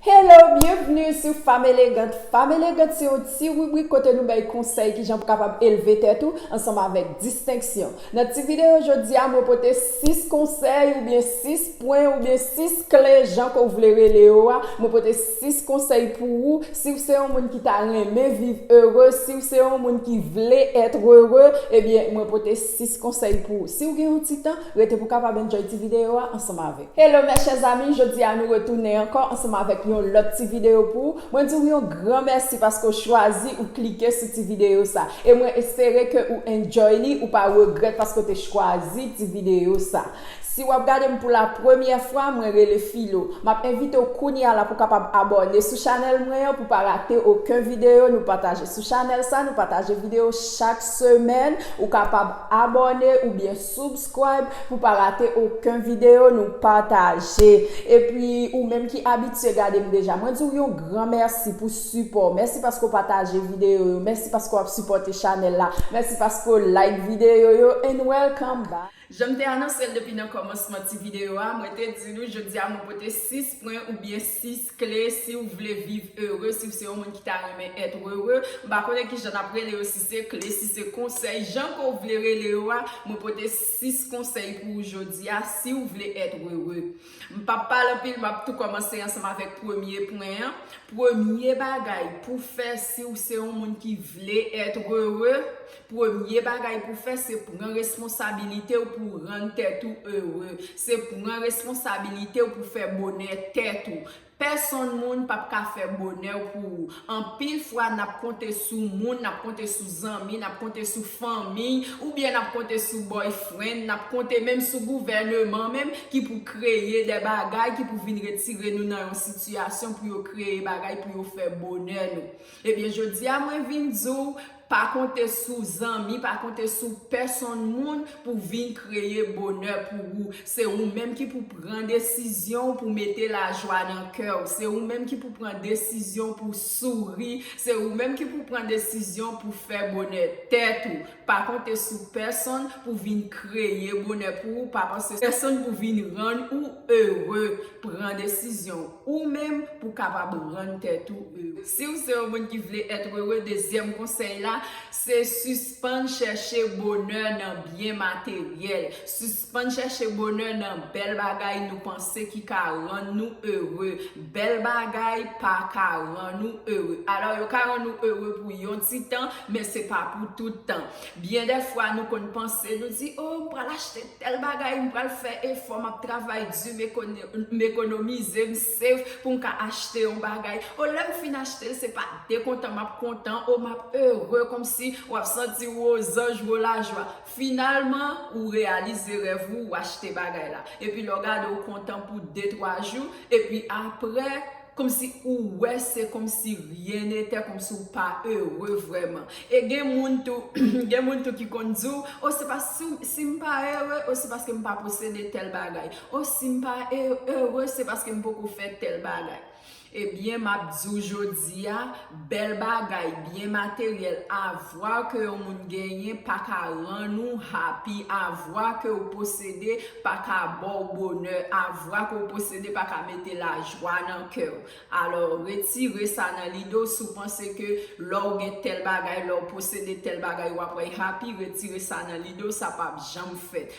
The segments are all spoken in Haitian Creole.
Hello, byenvni sou Femme Élégante! Femme Élégante se yon ti ribrik kote nou bay konsèy kijan pou kapab elve tèt ou ansanm avèk distenksyon. Nan ti videyo jodi a mwen pote 6 konsèy oubyen 6 pwen oubyen 6 kle jan ke w vle rele yo a, mwen pote 6 konsèy pou ou si w se yon moun ki ta renmen viv ere, si w se yon moun ki vle être heureux, ebyen mwen pote 6 konsèy pou ou. Si w gen yon ti tan, rete pou w kapab enjoy ti videyo a ansanm avè. Hello mes chers amis jodi a nou retounen ankò ansanm avèk yon lòt ti video pou mwen di ou yon gran mèsi paske ou chwazi ou klike sou ti video sa e mwen espere ke ou enjoy li ou pa regrèt paske ou te chwazi ti video sa si wap gade m pou la premyè fwa mwen rele filo map envite w kounya la pou kapab abòne sou chanèl mwen an pou pa rate oken video nou pataje sou chanèl sa nou pataje video chak semèn ou kapab abòne oubyen Subscribe pou pa rate oken video nou pataje epi ou menm ki abitye gadem deja mwen diw yon gran mèsi pou sipòw mèsi paske ou pataje video yo mèsi paske wap sipòte chanèl la mèsi paske ou like video yo and welcome back. Janm te anonsel depi nan kòmansman ti video a mwen te di nou jodia mwen pote 6 pwen oubyen 6 kle si ou vle viv ere si ou se yon moun ki ta renmen être heureux m pa konnen kijan nap rele yo si se kle si se konsèy jan ke w vle rele yo a mwen pote 6 konsèy pou ou jodi a si ou vle être heureux m pap pale anpil map tou kòmanse ansanm avèk premye pwen an premye bagay pou fè si ou se yon moun ki vle être heureux Premye bagay pou fè se pran responsabilite w pou rann tèt ou ere, se pran responsabilite w pou fè bonè tèt ou. Pèsonn moun pap ka fè bonè w pou ou. Anpil fwa nap konte sou moun, nap konte sou zanmi, nap konte sou fanmiy, oubyen nap konte sou boyfriend, nap konte menm sou gouvèneman menm ki pou kreye dè bagay ki pou vin retire nou nan yon sitiyasyon pou yo kreye bagay pou yo fè bonè nou. Ebyen jodia mwen vin di w pa konte sou zanmi, pa konte sou pèsonn moun pou vin kreye bonè pou ou. Se ou menm ki pou pran desizyon w pou mete lajwa nan kè w. Se ou menm ki pou pran desizyon pou souri. Se ou menm ki pou pran desizyon pou fè bonè tèt ou. Pa konte sou pèsonn pou vin kreye bonè pou ou, pa fòse pèsonn pou vin rann ou ere, pran desizyon ou menm pou kapab rann tèt ou ere. Siw se yon moun ki vle être heureux dezyèm konsèy la se sispann chèche bonè nan byen materyèl, Spann chèche bonè nan bèl bagay nou panse ki ka rann nou ere. Bèl bagay pa ka rann ou ere. Alò yo ka rann ou ere pou yon ti tan, men se pa pou tout tan. Byen dè fwa nou konn panse, nou di, o, m pral achte tèl bagay, m pral fè efò, m ap travay di, m ekonomize, m save pou m ka achte yon bagay. O, lè m fin achte l, se pa dekontan m ap kontan, o, m ap ere kòmsi w ap santi w ozanj, w o lajwa. Finalman, ou reyalize rèv ou, ou achte bagay la. Epi lè w gade ou kontan pou de twa jou, epi aprè, kòmsi ou wè se kòmsi ryen netè, kòmsi ou pa ere vrèman. E gen moun tou, gen moun tou ki konn di w, o se pa, si w, si m pa ere, o se paske m pa posede tèl bagay. O si m pa ere, se paske m poko fè tèl bagay. Ebyen map diw jodia bèl bagay byen materyèl avwa ke yon moun genyen paka rann ou happy avwa ke ou posede paka baw bonè avwa ke ou posede paka mete lajwa nan kèw alò retire sa nan lide w si w panse ke lè w gen tèl bagay lè w posede tèl bagay wap happy retire sa nan lide w sa pap janm fèt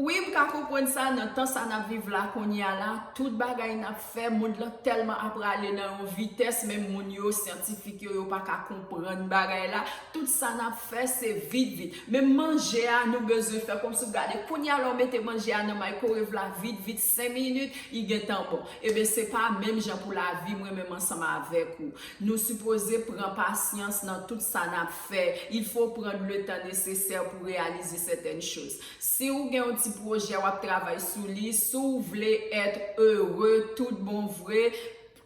Wi m ka konprann sa nan tan sa nap viv la kounya la tout bagay nap fè mond lan tèlman ap rale nan yon vitès menm moun yo syantifik yo yo paka konprann bagay la tout sa nap fè se vit vit menm manje a nou bezwen fè kòmsi w gade kounya la w mete manje a nan maykorev la vit vit 5 minit li gentan bon eben se pa menm jan pou lavi m renmen m ansanm avèk ou nou sipoze pran pasyans nan tout sa nap fè il faut prendre le temps nécessaire pou réaliser certaines choses. Si ou gen yon ti pwojè wap travay sou li, si w vle être heureux tout bon vre,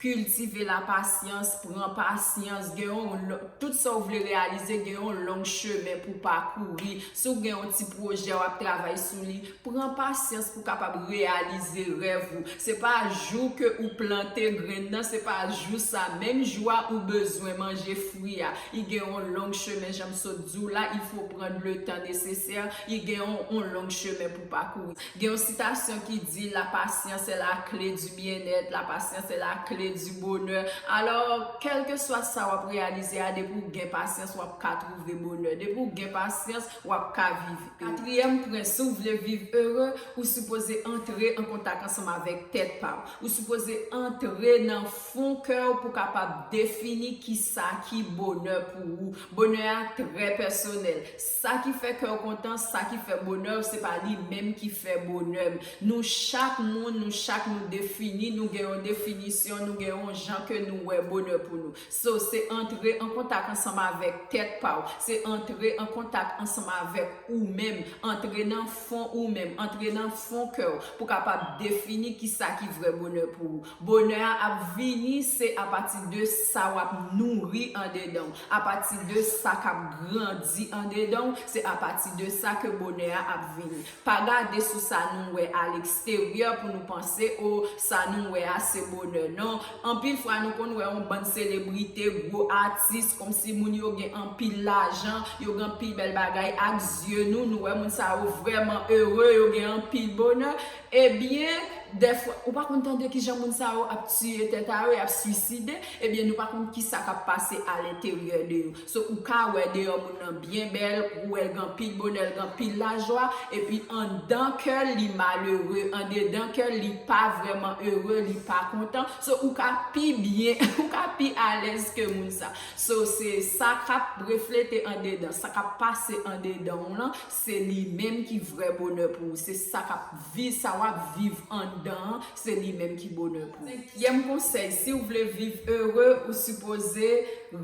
cultiver la patience, pran pasyans, gen yon tout sa ou vle reyalize gen yon long chemen pou pakouri, si w gen yon ti pwojè wap travay sou li, pran pasyans pou kapab reyalize rèv ou. Se pa jou ke ou plante grenn nan, se pa jou sa, menm jou a ou bezwen manje fwi a. I gen yon long chemen jan m. sot di w la, il faut prendre le temps nécessaire, il gen yon long chemin pou parcourir. Gen yon citation ki di, la patience est la clé du bien-être, la patience est la clé du bonheur. Alors, kelke swa sa w ap reyalize a, depi w gen pasyans, w ap ka trouve bonè. Depi w gen pasyans, w ap ka viv ere. Katriyèm pwen, si w vle viv ere, ou sipoze antre an kontak ansanm avèk tèt pa w. Ou sipoze antre nan fon kè w pou w kapab defini kisa ki bonè pou ou. Bonè a trè pèsonèl. Sa ki fè kè w kontan, sa ki fè bonè w, se pa li menm ki fè bonè m. Nou chak moun, nou chak nou defini, nou gen yon definisyon, nou gen yon jan ke nou wè bonè pou nou. So, se antre an kontak ansanm avèk tèt pa w, se antre an kontak ansanm avèk ou menm, antre nan fon ou menm, antre nan fon kè w pou kapab defini kisa ki vrè bonè pou ou. Bonè a ap vini se apati de sa wap nouri andedan w, apati de sa kap grandi andedan w, se apati de sa ke bonè a ap vini. Pa gade sou sa nou wè a leksteryè pou nou panse o sa nou wè a se bonè non. Anpil fwa nou konn wè on bann selebrite, gwo atis, kòmsi moun yo gen anpil lajan, yo gen anpil bèl bagay, ak zye nou, nou wè moun sa yo vrèman ere, yo gen anpil bonè, Ebyen dèfwa ou pa konn tande kijan moun sa yo ap tiye tèt a yo, yap swiside, ebyen nou pa konn kisa kap pase a lenteryè de yo. So ou ka wè deyò moun nan byen bèl, ou wèl gen anpil bonè, l gen anpil lajwa, epi anndan kèl li malere, andedan kèl li pa vrèman ere, li pa kontan, so ou ka pi byen, ou ka pi alèz ke moun sa. So se sa kap reflete andedan, sa kap pase andedanw lan, Se li menm ki vrè bonè pou ou. Se sa kap vi, sa wap viv anndan an, se li menm ki bonè pou ou. Senkyèm konsèy, siw vle viv ere, ou sipoze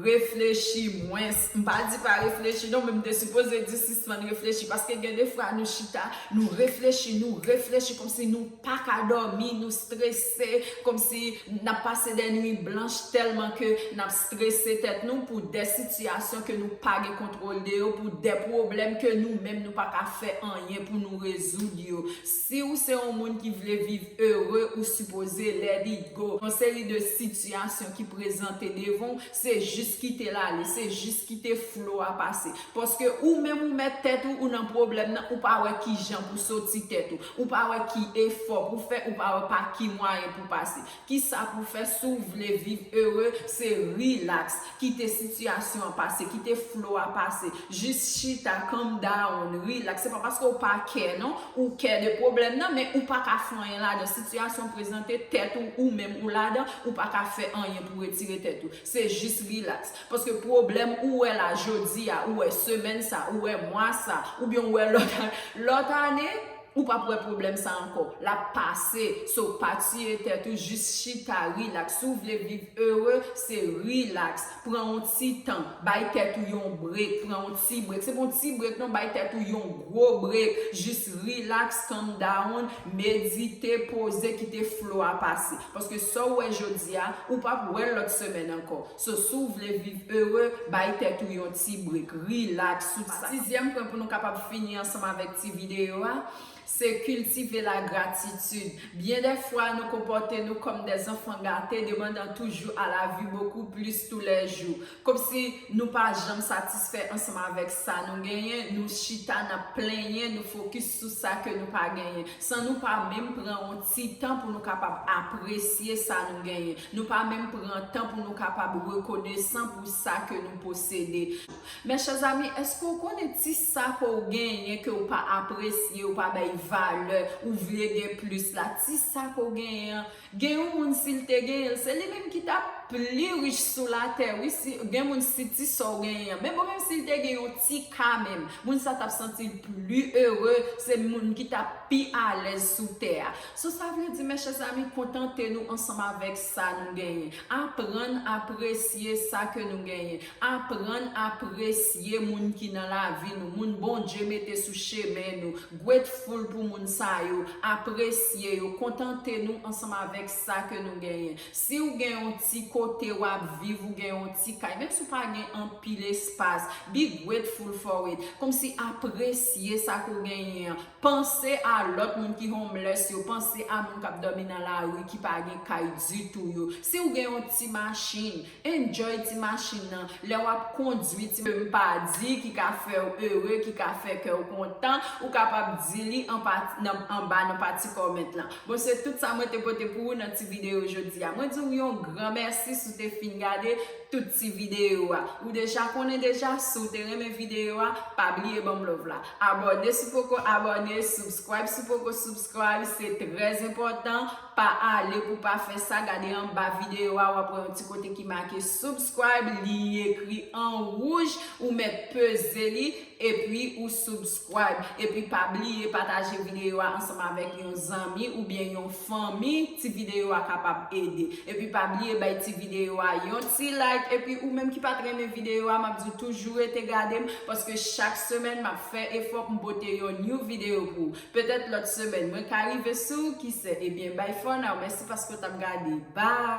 reflechi mwens. M pa di pa reflechi non, men m te sipoze di sispann reflechi. Paske gen de fwa nou chita, nou reflechi, nou reflechi kòmsi nou. paka dòmi, nou strese, kòmsi nap pase dè nwit blanch tèlman ke nap strese tèt nou pou dè sitiyasyon ke nou pa gen kontwòl de yo, pou dè pwoblèm ke nou menm nou paka fè anyen pou nou rezoud yo. Siw se yon moun ki vle viv ere ou sipoze let it go. Yon seri de sitiyasyon ki prezante devanw, se jis kitel ale, se jis kite flo a pase. Paske ou menm ou mèt tèt ou, ou nan pwoblèm nan, ou pa wè kijan pou soti tèt ou. Ou pa wè ki efò pou fè, ou pa wè pa ki mwayen pou pase. Kisa pou fè si w vle viv ere se rilaks, kite sitiyasyon an pase, kite flo a pase, jis chita, calm down, rilaks. Se pa paske w pa kè non, ou kè de pwoblèm nan men ou pa ka fè anyen ladan. Sitiyasyon prezante, tèt ou, ou menm ou ladan, ou pa ka fè anyen pou retire tèt ou. Se jis rilaks. Paske pwoblèm ou wè la jodi a, ou wè semèn sa, ou wè mwa sa, oubyen ou wè lòt ane, lòt ane, ou pap wè pwoblèm sa ankò. L ap pase. So, pa tiye tèt ou, jis chita rilaks. Si w vle viv ere, se rilaks. Pran yon ti tan. Bay tèt ou yon brek. Pran yon ti brek. Se pa yon ti brek non, bay tèt ou yon gwo brek. Jis rilaks, calm down, medite, poze, kite flo a pase. Paske sa w wè jodi a, ou pap wè l lòt semèn ankò. So si w vle viv ere, bay tèt ou yon ti break, rilaks, tout sa. Sizyèm pwen pou nou kapab fini ansanm avèk ti videyo a, se kiltive lagratitid. Byen dè fwa nou konpòte nou kòm dè zanfan gate, demandan toujou a lavi bokou plis tou lè jou. Kòmsi nou pa janm satisfè ansanm avèk sa nou genyen, nou chita n ap plenyen, nou fokis sou sa ke nou pa genyen. San nou pa menm pran yon ti tan pou nou kapab apresye sa nou genyen. Nou pa menm pran tan pou nou kapab rekonesan pou sa ke nou posede. Men chè zami, eske ou konnen ti sa ke ou genyen ke ou pa apresye, ou pa bay valè, ou vle gen plis la, ti sa ke ou genyen an, Gen yon moun sil te genyenl se li menm ki tap pli rich sou latè wi si gen moun si ti sa ou genyen an men bon menm sil te gen yon ti ka menm moun sa tap santil pli ere se moun ki tap pi alèz sou tè a so sa vle di mèchè zami kontante nou ansanm avèk sa nou genyen aprann apresye sa ke nou genyen Aprann apresye moun ki nan lavi nou, moun Bondye mete sou chemen nou. Grateful pou moun sa yo, apresye yo, kontante nou ansanm avèk sa ke nou genyen. Si ou gen yon ti kote wap viv, ou gen yon ti kay, menm si ou pa gen anpil espas, be grateful for it. Kòmsi apresye sa ke ou genyen an. Panse a lòt moun ki homeless yo, panse a moun kap dòmi nan lari ki pa gen kay ditou yo. Si ou gen yon ti machin, Enjoy ti machin nan lè wap kondwi ti machin nan. Ke m pa di ki ka fè w ere, ki ka fè kè w kontan, ou kapab di li anba nan pati comment lan. Bon se tout sa mwen te pote pou ou nan ti videyo jodi a. Mwen di w yon gran mèsi si w te fin gade tout ti videyo a. Ou deja konnen deja si w te renmen videyo a, pa bliye ban m love la. Abòne si w poko abòne, subscribe si w poko subscribe, se trè enpòtan. Pa ale pou pa fè sa gade anba video a wap wè yon ti kote ki make subscribe li ekri an wouj ou mèt peze li epi ou subscribe epi pa bliye pataje video a ansanm avèk yon zanmi oubyen yon fanmi ti video a kapab ede epi pa bliye bay ti video a yon ti like epi ou menm ki pat renmen video a map diw toujou rete gadem paske chak semèn map fè efò poum pote yon new video pou ou. Petèt lòt semèn mwen ka rive sou, kise? Ebyen bye for now, mèsi paske w t ap gade. Bye!